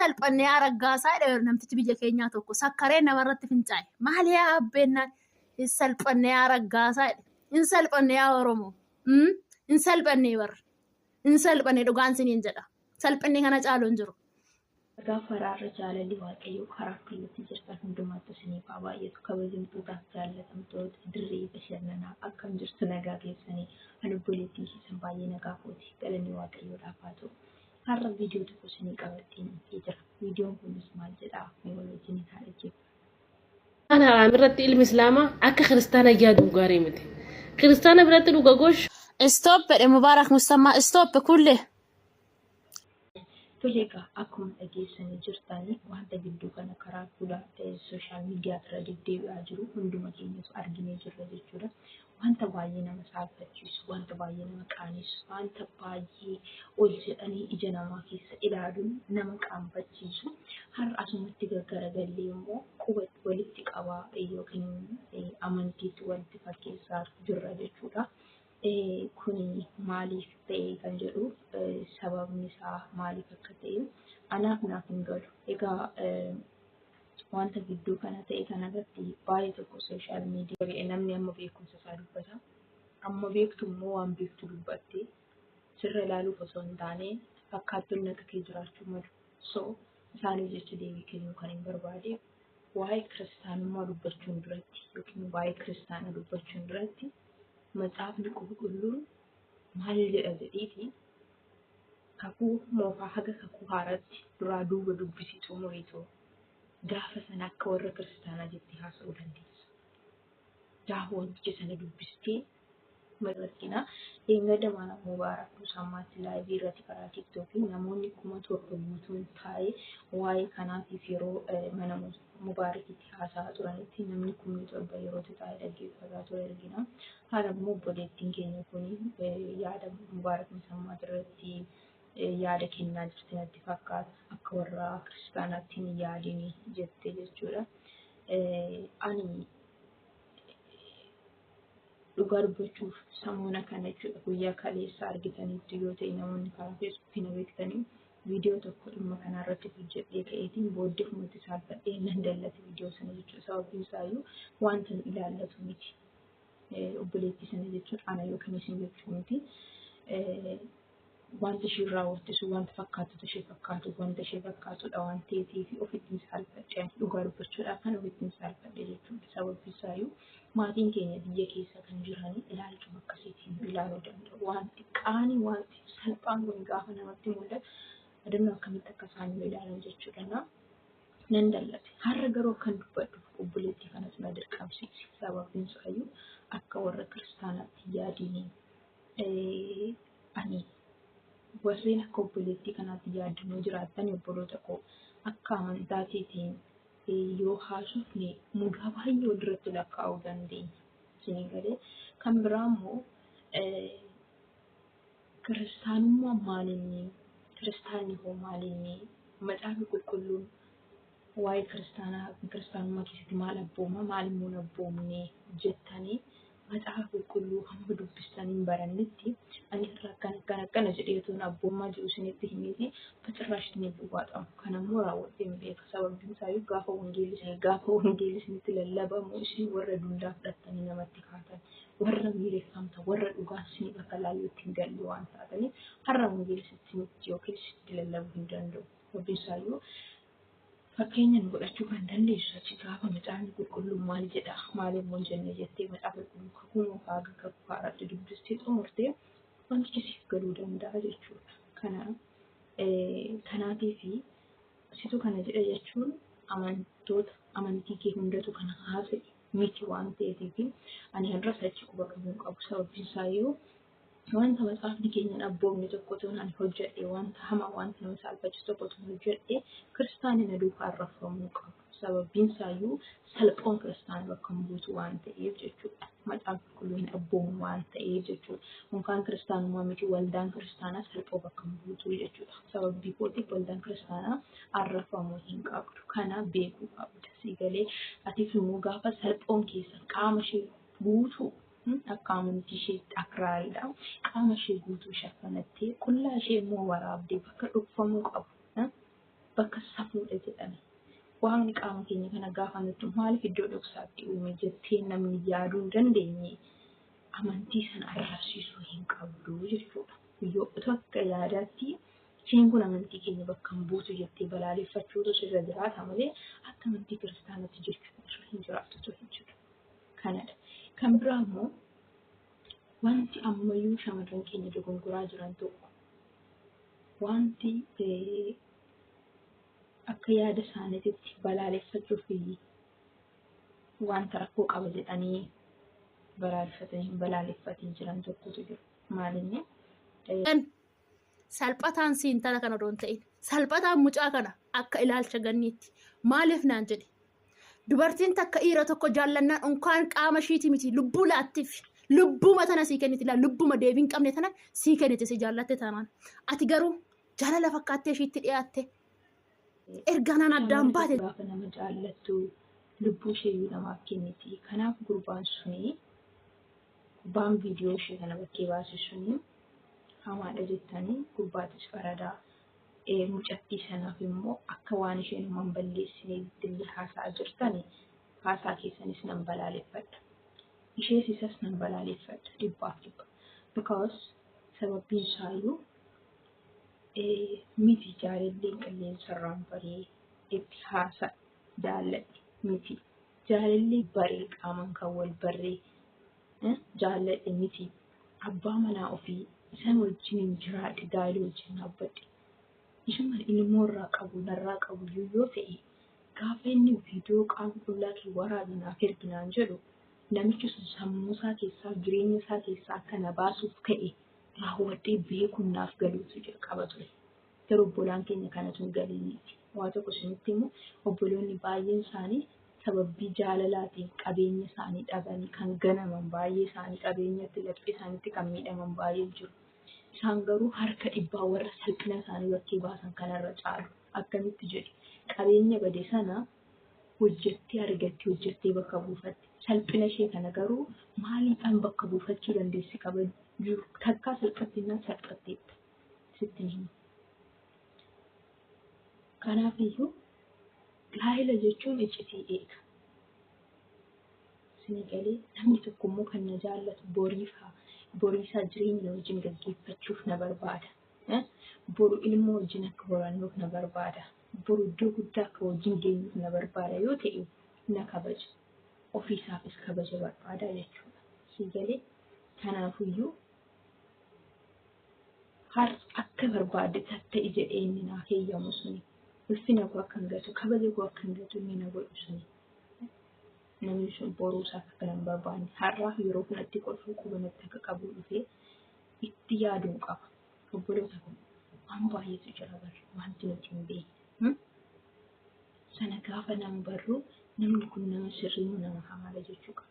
salphannee araggaasaa dha namtichi biyya keenyaa tokko sakkaree namarratti fincaa'e maali yaa abbeennaan hin salphannee araggaasaa dha hin salphannee yaa oromoo Mm? hin salphannee barra hin salphannee dhugaan siniin jedha salphinni kana caalu hin jiru. Ragaa faraarra jaalalli waaqayyoo karaa kallattii jirtan hundumaattu isiniif haa baay'atu kabajamtootaaf jaallatamtoota dirree bashannanaa akkam jirtu nagaa keessanii halubboleettiin keessan baay'ee nagaa kooti galanni waaqayyoodhaaf haa ta'u. Har'a viidiyoo tokko isinii qabadheen dhufee jira. Viidiyoon kunis maal jedhaa? Mee wal wajjin haa dhaggeeffannu. Kana irratti ilmi Islaamaa akka kiristaana yaaduun gaarii miti. Kiristaana biratti dhuga gosh. Stop jedhe Mubaarak Musammaa. Stop kulle. Tole egaa akkuma dhageessanii jirtan wanta gidduu kana karaa fuula sooshaal miidiyaa irra deddeebi'aa jiru hunduma keenyatu arginee jirra jechuudha. Wanta baay'ee nama saalfachiisu, wanta baay'ee nama qaanessu, wanta baay'ee ol jedhanii ija namaa keessa ilaaluun nama qaanfachiisu har'a asumatti gaggaragallee immoo quba walitti qabaa yookiin amantiitti walitti fakkeessaa jirra jechuudha. Kuni maaliif ta'e kan jedhu sababni isaa maaliif akka ta'e anaaf naaf hin galu. Egaa Wanta gidduu kana ta'e kanarratti baay'ee tokko sooshaal miidiyaa ta'e namni amma beekumsa isaa dubbata. Amma beektu immoo waan beektu dubbatte sirra ilaaluuf osoo hin taane fakkaattonni akka kee jiraachuu malu. So isaaniif jecha deebii kennuu kan hin barbaade waa'ee kiristaanummaa dubbachuun duratti yookiin waa'ee kiristaana dubbachuun duratti macaafni qulqulluun maal jedha jedhiiti Kakuu Moofaa haga Kakuu Haaraatti duraa duuba dubbisii xumuriitoo gaafa sana akka warra kiristaanaa jettee haasa'uu dandeessa. Gaafa wanticha sana dubbistee mararkinaa dheengadda maana Mubaarak Musammaatti laayivii irratti karaa tiktookiin namoonni kuma torba guutuun taa'ee waa'ee kanaatiif yeroo mana murtii Mubaarikitti haasa'aa turanitti namni kumni torba yeroo itti taa'ee dhaggeeffataa ture argina. Haala immoo obboleettiin keenya kun yaada Mubaarak Musammaa irratti yaada kennaa jirti natti fakkaata. Akka warra kiristaanaatti hin yaadini jette jechuudha. Ani dhugaa dubbachuuf samuuna kana jechuudha guyyaa kaleessa argitanitti yoo ta'e namoonni karaa feesbuukii na beektanii Viidiyoo tokko dhimma kanaa irratti hojjedhee ka'eetiin booddefumatti saalfadhee nan dallate viidiyoo sana jechuudha. Sababiin isaayyuu wanta nu ilaallatu miti. Eh, Obboleettii sana jechuun ana yookiin isin jechuu miti. Eh, Wanta isheen raawwatte sun wanta fakkaatutu ishee fakkaatu, wanta ishee fakkaatudha waan ta'eef ofittiin saalfadhe. Ani Dhugaa dubbachuudhaaf kan ofittiin saalfadhe jechuudha. Sababiin isaayyuu Maatiin keenya biyya keessa kan jiran ilaalchuma akkasiitiin nu ilaaluu danda'u. Waan xiqqaani, wanti salphaan kun gaafa namatti mul'atu adamnoo akkamitti akka isaan nu ilaalan jechuu danda'a. Nan dallate. Har'a garuu akkan dubbadhu obboleettii kanatu na dirqamsiise. Sababiin isaayyuu akka warra kiristaanaatti yaadiin eh, ani warreen akka obboleettii kanaatti yaaddanoo jiraattan obboloota koo akka amantaa keetiin yoo haasofne mudaa baay'ee walirratti lakkaa'uu dandeenya. Isinii galee kan biraa immoo kiristaanummaan maalinni kiristaanni hoo maalinni macaafni qulqulluun waa'ee kiristaanaa kiristaanummaa keessatti maal abbooma maal immoo abboomne jettanii Macaafa Qulqulluu hamma dubbistan hin barannetti ani irra akkana akkana akkana jedhee utuu abbummaa jiru isinitti himeeti bacirraash isin hin dhuwaatamu. Kan ammoo raawwadhee hin beeka. Sababiin isaayyuu gaafa wangeelli isin gaafa wangeelli isinitti lallabamu isin warra dullaa fudhattanii namatti kaatan warra miireffamta warra dhugaan isiniif akka laayyootti hin galle waan taataniif har'a wangeelli isinitti yookiin isinitti lallabuu hin danda'u. Sababiin isaayyuu Fakkeenya nu godhachuu kan dandeessu achi gaafa macaafni qulqulluun maal jedha maal immoo hin jenne jettee macaafa qulqulluu kakuu moofaa haga kakuu haaraatti dubbistee xumurte wantichi siif galuu danda'a jechuudha. Kanaaf kanaatii fi situ kana jedha jechuun amantoota amantii kee hundatu kana haasa'e miti waan ta'eef ani har'as achi quba qabuun qabu sababiin isaa yoo Wanta macaafni keenya hin abboomne tokko tuun ani hojjedhe, wanta hamaa, wanta nama saalfachiisu tokko tuun hojjedhe, kiristaanni na duukaa arrafamuu qabu. Sababiin isaayyuu salphoon kiristaana bakka hin buutu waan ta'eef jechuudha. Macaan qulqulluu hin abboomu waan ta'eef jechuudha. Unkaan kiristaanummaa miti waldaan kiristaanaa salphoo bakka hin buutu jechuudha. Sababii kootiif waldaan kiristaanaa arrafamuu hin qabdu. Kana beekuu qabda. Sii galee atis immoo gaafa salphoon keessan qaama ishee guutuu Kun akka amantii isheetti akraariidha. Qaama ishee guutuu shaffanattee, qullaa ishee immoo waraabdee bakka dhokfamuu qabu, eh, bakka safuudha jedhame. Waaqni qaama keenya kana gaafa nuttu maaliif iddoo dhoksaatti uume jettee namni yaaduu hin dandeenye amantii sana arrabsiisuu hin qabdu jechuudha. Yoo utuu akka yaadaatti isheen kun amantii keenya bakka hin buutu jettee balaaleffachuutu sirra jiraata malee akka amantii kiristaanatti jechuun osoo hin jiraatu osoo hin jiru. kanadha. Kan biraa immoo wanti ammayyuu shamarran keenya dogongoraa jiran tokko wanti eh, akka yaada isaaniititti balaaleffachuu fi wanta rakkoo qaba jedhanii balaaleffatanii hin balaaleffatiin jiran tokkotu jiru. Maalinni eh, Kan salphataan si intala kana odoo hin ta'in salphataan mucaa kana akka ilaalcha ganniitti maaliif naan jedhe dubartiin takka dhiira tokko jaallannaan unkaan qaama ishiiti miti lubbuu laattiif lubbuma tana sii kenniti laa lubbuma deebii hin qabne tana sii kenniti si jaallatte taanaan ati garuu jaalala fakkaattee ishiitti dhiyaatte Ergaanaan addaan baate. Gaafa nama jaallattu lubbuu isheeyyuu namaaf kenniti. Kanaaf gurbaan suni gurbaan viidiyoo ishee kana bakkee baase suni hamaadha jettanii gurbaatis faradaa. Eh, Mucattii sanaaf immoo akka waan isheen homa hin balleessineetti illee haasa'aa jirtani haasaa keessanis nan balaaleffadha. Ishees isas nan balaaleffadha dhibbaaf dhibba. Because sababbiin isaayyuu Ee, miti jaalalleen qilleensarraan baree itti haasa'a jaalladhe miti jaalallee baree qaamaan kan wal barree eh, jaalladhe miti abbaa manaa ofii isan wajjiniin jiraadhe gaa'ela wajjin dhaabbadhe isuma ilmoo irraa qabu narraa qabu iyyuu yoo ta'e gaafa inni viidiyoo qaama qullaa kee waraabi naaf ergi naan jedhu namichi sun sammuu isaa keessaa jireenya isaa keessaa akka na baasuuf ka'e raawwadhee beekuun naaf galuutu jalqaba ture. Garuu obbolaan keenya kanatu hin galiiniiti. Waa tokko isinitti immoo obboloonni baay'een isaanii sababii jaalalaatiin qabeenya isaanii dhabanii kan ganaman baay'ee isaanii qabeenyatti laphee isaaniitti kan miidhaman baay'ee jiru. Isaan garuu harka dhibbaa warra salphina isaanii bakkee baasan kanarra caalu. Akkamitti jedhe qabeenya bade sana hojjettee argatti, hojjettee bakka buufatti. Salphina ishee kana garuu maaliidhaan bakka buufachuu dandeessi kabaju? Takkaa salphatti innaan salphatteetta. Sitti hin himu. Kanaaf iyyuu gaa'ela jechuun iccitii eega. Isinii galee namni tokko immoo kan na jaallatu boriif haa boriisaa jireenya na wajjin gaggeeffachuuf na barbaada. Boru ilmoo wajjin akka horannuuf na barbaada. Boru iddoo guddaa akka wajjin deemuuf na barbaada yoo ta'e, na kabaja. Ofiisaafis kabaja barbaada jechuudha. Sii galee? Kanaafuyyuu har akka barbaadde tatta'i jedhee inni naaf heeyyamu suni. Ulfina koo akkan gatu, kabaja koo akkan gatu inni na godhu suni. Namni sun boruu isaaf akka nan barbaanne har'aaf yeroo kanatti kolfuu quba natti akka qabu dhufee itti yaaduu qaba. Obboloota kun waan baay'eetu jira barri wanti nuti hin beekne. Sana gaafa nama barru namni kun nama sirrii moo nama hamaadha jechuu qaba.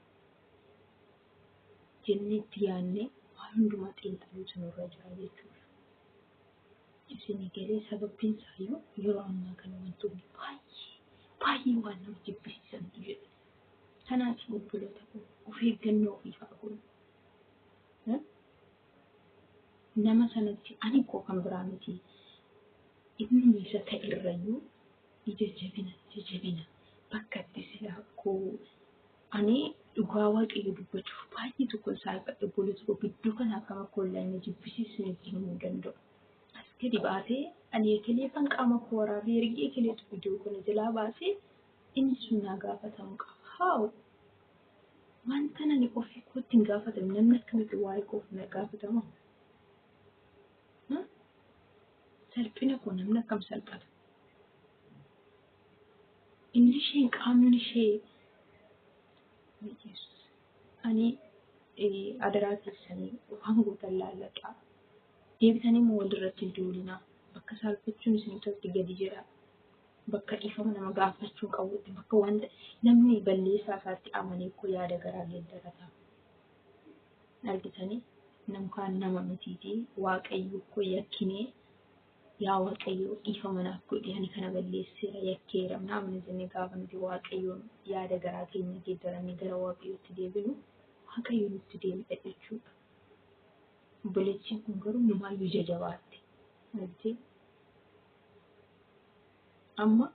Jennee itti yaadnee waan hundumaa xiinxaluutu nurra jira jechuudha. Isin galee sababbiin isaayyuu yeroo ammaa kana wantoonni baay'ee baay'ee waan nama jibbisiisantu jira. Kanaaf obboloota kun of eeggannoo ofii haa goonu. nama sanatti ani koo kan biraa miti innuma isa ta'errayyuu ija jabina ija jabina bakka itti silaa koo ani dhugaa waaqayyo dubbachuuf baay'ee tokko isaa ifadhe obboleessa koo gidduu kana akkam akka ollaa inni jibbisiisu nutti himuu danda'u. As gadi baatee ani ekelee kan qaama koo waraabee ergee ekeleetu viidiyoo kana jalaa baasee inni sun naa gaafatamuu qaba. Haawu! Wantan ani ofii kootti hin gaafatamne namni akkamitti waa'ee koof na gaafatama? Salphina koo namni akkam salphata? Inni isheen qaamni ishee ani adaraa keessanii waan gootan laalladhaa. Deebitanii immoo walirratti hin duulinaa. Bakka saalfachuun isin irratti gadi jedhaa. bakka dhiifama nama gaafachuu qabutti bakka wanta namni balleessaa isaatti amanee koo yaada garaa geeddarata. Argitanii namkaan nama mitiiti waaqayyo koo yakkinee yaa waaqayyo dhiifama naaf godhi ani kana balleesseera yakkeera naamni jennee gaafa nuti waaqayyoon yaada garaa keenya geeddarannee gara waaqayyootti deebinu waaqayyo nutti deebi'a jechuudha. Obboleettiin kun garuu numaayyuu jajabaatte. Argitee? Amma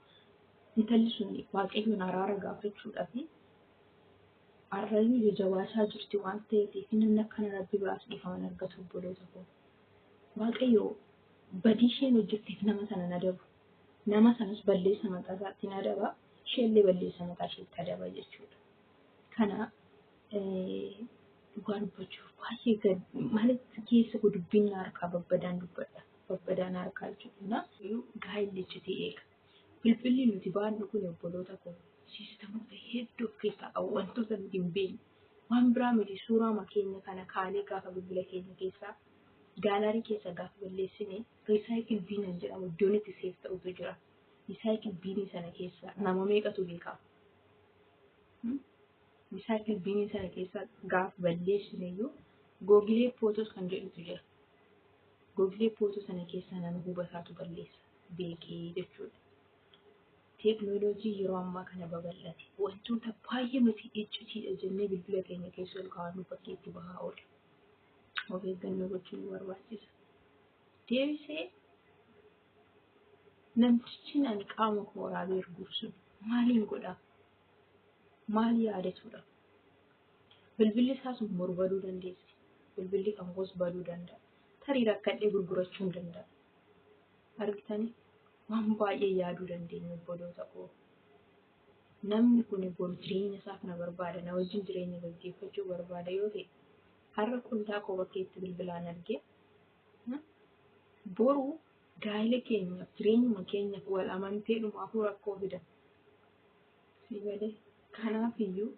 intalli sun waaqayyoon araara gaafachuudhaaf arrayyuu jajabaasaa jirti waan ta'eef namni akkana rabbi biraas dhiifama hin argatu obboloota koo. Waaqayyo badii isheen hojjetteef nama sana hin adabu. Nama sanas balleessa mataa isaatiin adaba, isheellee balleessa mataa isheetti adaba jechuudha. Kana Dhugaa dubbachuuf baay'ee gad maalitti keessa koo dubbiin na harkaa babbadaan dubbadha. Babbadaan harkaa jechuudha. Gaa'illi iccitii eega. Bilbilli nuti baannu kun obboloota koo siistamoota hedduu of keessaa qaba. Wantoota nuti hin beekne. Waan biraa miti suuraa keenya kana kaanee gaafa bilbila keenya keessaa gaalaarii keessa gaafa balleessine riisaayikil biiniin jedhamu iddoon itti seef ta'utu jira. Riisaayikil biinii sana keessa nama meeqatu beekaa? Bisaan Ilbiinii sana keessa gaaf balleessine iyyuu googilee pootos kan jedhutu jira. Googilee pootoo sana keessaa nama hubataatu balleessa beekee jechuudha. Teeknooloojii yeroo ammaa kana babal'ate wantoota baay'ee nuti iccitiidha jennee bilbila keenya keessa ol kaa'annu fakkeetti bahaa oola. Of eeggannoo gochuu nu barbaachisa. Deebisee namtichi ani qaama koo waraabee erguuf sun maaliin godhaa? maal yaadatuudha? Bilbilli isaa sun boru baduu dandeessi. Bilbilli kan koos baduu danda'a. Tarii rakkadhee gurgurachuu hin danda'a. Argitanii waan baay'ee yaaduu dandeenya obboloota koo. Namni kun boru jireenya isaa kana barbaada. Na wajjin jireenya gaggeeffachuu barbaada yoo ta'e har'a qullaa koo bakka itti bilbilaan argee boru gaa'ila keenyaaf jireenyuma keenyaaf wal amanteedhumaafuu rakkoo fida. Sii galee. Kanaaf iyyuu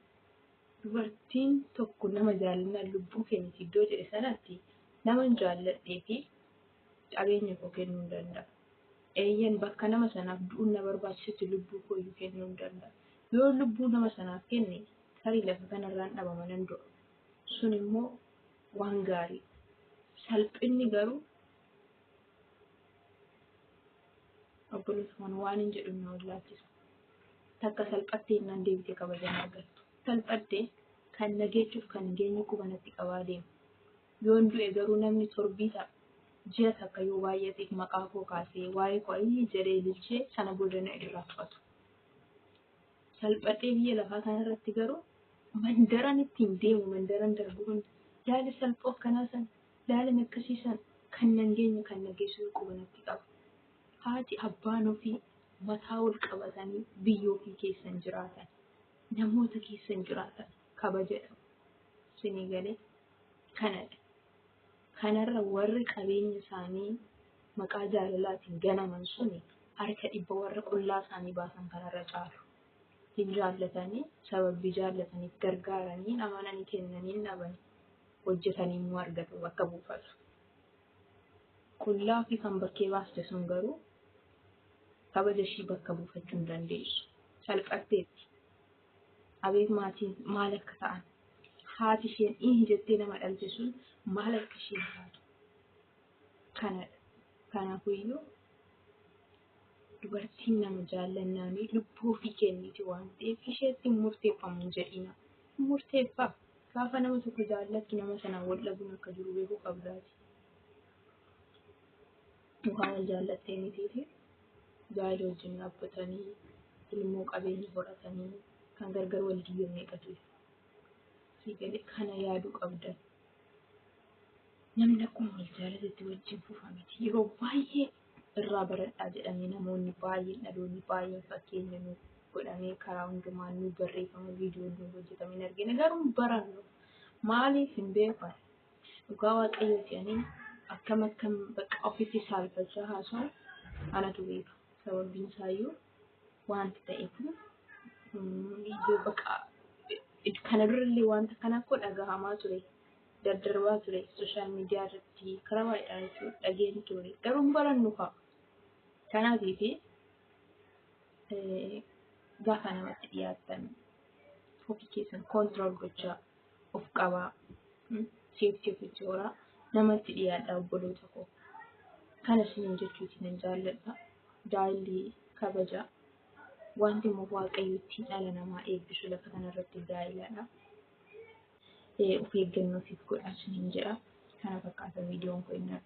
dubartiin tokko nama jaalannaan lubbuu keenya iddoo jedhe sanatti naman jaalladhee fi qabeenya koo kennuu hin danda'a. Eeyyan bakka nama sanaaf du'uun na barbaachisutti lubbuu koo iyyuu kennuu hin danda'a. Yoo lubbuu nama sanaaf kenne tarii lafa kanarraan dhabama nan du'a. Sun immoo waan gaarii. Salphinni garuu Obboleessa kana waan hin jedhu na wallaalchisa. Takka salphattee innaan deebitee kabaja na argattu. Salphattee kan na geechuuf kan hin geenye quba natti qabaa deema. Yoon du'e garuu namni torbii ta'a. Ji'a takka yoo baay'ateef maqaa koo kaasee waa'ee koo ayyii jedhee ililchee sana booda na irraa fudhatu. Salphattee biyya lafaa kanarratti garuu mandaran ittiin deemu mandaran darbu hunda yaali salphoo akkanaa sana Laalan akkasii san kan nan geenye kan na geessutu quba natti qaba. Haati abbaan ofii mataa ol qabatanii biyya ofii keessan jiraatan namoota keessan jiraatan kabaja dhabu. Sinii galee kanadha. Kanarra warri qabeenya isaanii maqaa jaalalaatiin ganaman suni harka dhibba warra qullaa isaanii baasan kanarra caalu. Hin jaallatanii sababii jaallataniif gargaaranii amananii kennanii hin dhabanii. hojjetanii immoo argatu bakka buufata. Qullaa ofii kan bakkee baaste sun garuu kabaja ishii bakka buufachuu hin dandeessu. Salphatteetti. Abeet maatiin maal akka ta'an. Haati isheen ihi jettee nama dhalte sun maal akka isheen taatu. Kanadha. Kanaafiyyuu Dubartiin nama jaallannaanii lubbuu ofii kenniti waan ta'eef isheetti murteeffamu hin jedhina. Murteeffaa gaafa nama tokko jaallattu nama sanaan wal dhabuun akka jiru beekuu qabdaati. Mukaan wal jaallattee mitiifi gaa'ela wajjin dhaabbatanii ilmoo qabeenya horatanii kan gargar wal diigamee qatu. Kana yaaduu qabdan. Namni akkuma wal jaalatetti wajjin fufa miti. Yeroo baay'ee irraa baradhaa jedhamee namoonni baay'een dhaloonni baay'een fakkeenya nu godhamee karaa hundumaan nu barreeffama viidiyoo nu hojjetame hin argine garuu hin barannu maaliif hin beekan dhugaa waaqayyoo jedhanii akkam akkam bakka ofitti saalfachaa haasa'u anatu beeka sababiin isaayyuu wanti ta'e kun mm, iyyuu bakka kana durallee wanta kana koo dhagahamaa ture. daddarbaa ture sooshaal miidiyaa irratti karaa baay'eedhaan jechuudha dhageen ture garuu hin barannu fa'a. Kanaafii fi gaafa namatti dhiyaatan ofii keessan koontirool gochaa of qabaa seeftii of ijooraa namatti dhiyaadha obboloota koo. Kana isiniin jechuuti nan jaalladha. Daa'illi kabaja wanti immoo waaqayyo ittiin dhala namaa eebbisu lafa kanarratti daa'iladha. of eeggannoo siif godhaa isiniin jedha. Kana fakkaata viidiyoon kun inni har'aa.